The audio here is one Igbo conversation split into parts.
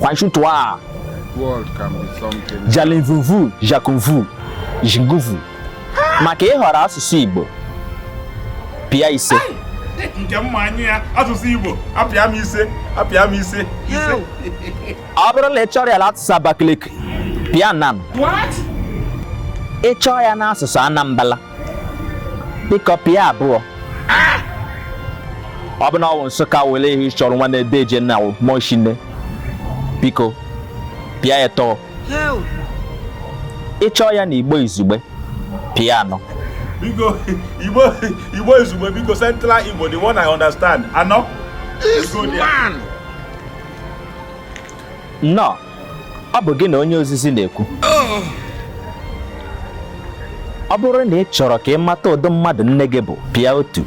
Kwanshutua. World can be something. Jalinvuvu, Jakunvu, Jinguvu. Maka ịhọrọ asụsụ Igbo. Pịa ise. Nke mma anyị ya asụsụ Igbo apịa m ise apịa m ise ise. Ọ bụrụ la ị chọrọ ya la asụsụ Abakaliki, pịa nan. What? Ị chọọ ya n'asụsụ Anambala. biko pịa abụọ ọ bụ na ọ bụ nsụka wele ihe ị chọrọ nwanne deeje na mọshine biko pịa atọ ị chọọ ya na igbo izugbe pịa anọ biko igbo igbo izugbe biko central igbo the one i understand anọ This man. No. ọ bụ gị na onye ozizi na-ekwu ọ bụrụ na ị chọrọ ka ị mata ụdị mmadụ nne gị bụ pịa otu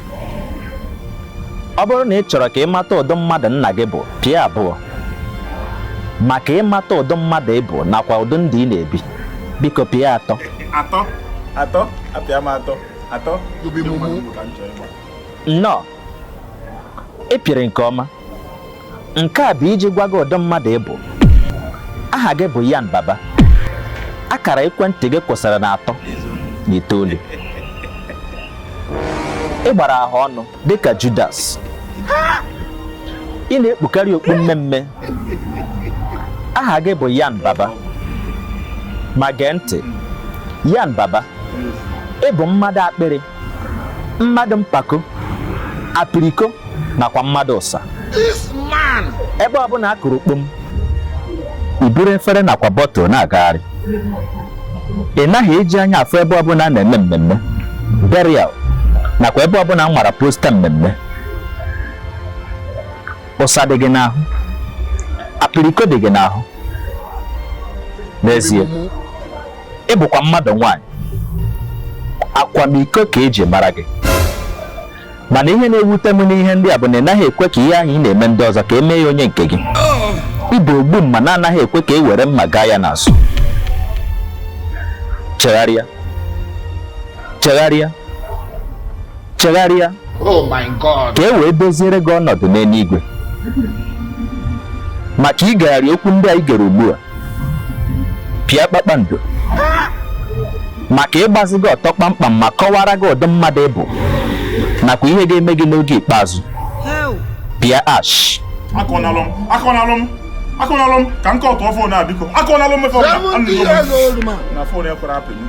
ọ bụrụ na ị chọrọ ka ị mata ụdị mmadụ nna gị bụ pịa abụọ maka ịmata ụdị mmadụ ị bụ nakwa ụdị ndụ ị na-ebi biko pịa atọ atọ atọ apịa m atọ atọ nnọọ ị pịrị nke ọma nke a bụ iji gwa gị ụdị mmadụ ị bụ aha gị bụ yan baba akara ekwentị gị kwụsịrị na atọ na itoolu ị gbara ahụ ọnụ dịka judas ị na-ekpukarị okpu mmee mmee aha gị bụ yan baba ma gee ntị yan baba ị bụ mmadụ akpịrị mmadụ mpako apiriko nakwa mmadụ ụsa ebe ọbụla a kụrụ kpom i buru efere nakwa bọtụl na-agagharị ị naghị eji anya afụ ebe ọbụla a na-eme mmemme burial nakwa ebe ọbụla a nwara posta mmemme ụsa dị gị n'ahụ apiriko dị gị n'ahụ n'ezie ị bụkwa mmadụ nwaanyị akwamiko ka e ji mara gị mana ihe na-ewute m n'ihe ndị a bụ na ị naghị ekwe ka ihe ahụ ị na-eme ndị ọzọ ka e mee ya onye nke gị ị bụ ogbu mma na-anaghị ekwe ka e were mma gaa ya n'azụ chegharịa chegharịa chegharịa oh ka e wee doziere gị ọnọdụ n'eluigwe maka igegharị okwu ndị a i gere ugbu a pịa kpakpando maka ịgbazi gị ọtọ kpamkpam ma kọwara gị ụdị mmadụ ị bụ nakwa ihe ga-eme gị n'oge ikpeazụ pịa hash akọnalụ m akọnalụ m akọnalụ m ka nke ọtụọ fon a biko akọnalụ m mefe na fon ekwere apịnye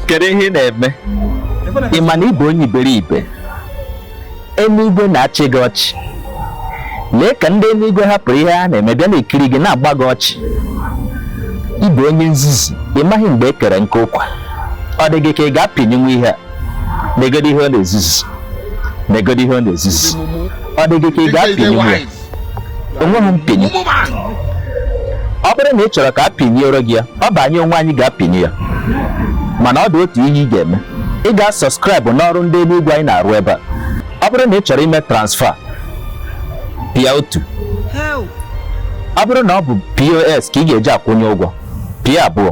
kedu ihe ị na-eme ị ma na ị bụ onye iberibe eluigwe na-achị gị ọchị lee ka ndị eluigwe hapụrụ ihe ha na-eme bịa na-ekiri gị na-agba gị ọchị ị bụ onye nzuzu ị maghị mgbe e kere nkụ ụkwa ọ dị gị ka ị ga-apịnyụnwu ihe a negodi ihe ọ na-ezuzu negodi ihe ọ na-ezuzu ọ dị gị ka ị ga-apịnyụnwu ya o nweghị mpịnyụ ọ bụrụ na ị chọrọ ka a pịnyụọrọ gị ya ọ bụ anyị onwe anyị ga-apịnyụ ya mana ọ dị otu ihe ị ga-eme ị ga-asọskraịbụ n'ọrụ ndị eluigwe anyị na-arụ ebe a ọ bụrụ na ị chọrọ ime transfa pịa otu ọ bụrụ na ọ bụ pos ka ị ga-eji akwụnye ụgwọ pịa abụọ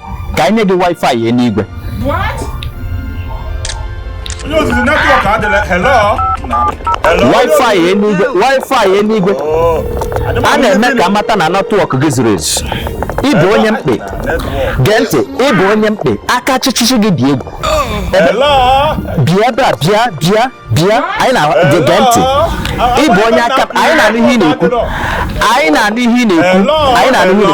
ka anyị nye gị wifi eluigwe onye ozizi netwọk adịla hello wifi eluigwe wifi eluigwe oh. a na-eme ka a mata na netwọk gị zuru ezu ị bụ onye mkpe gee ntị ị bụ onye mkpe aka chịchịchị gị dị egwu bịa ebe a bịa bịa bịa anyị na-ege ntị ị bụ onye aka anyị na-anụ ihe ị na-ekwu anyị na-anụ ihe ị na-ekwu anyị na-anụ ihe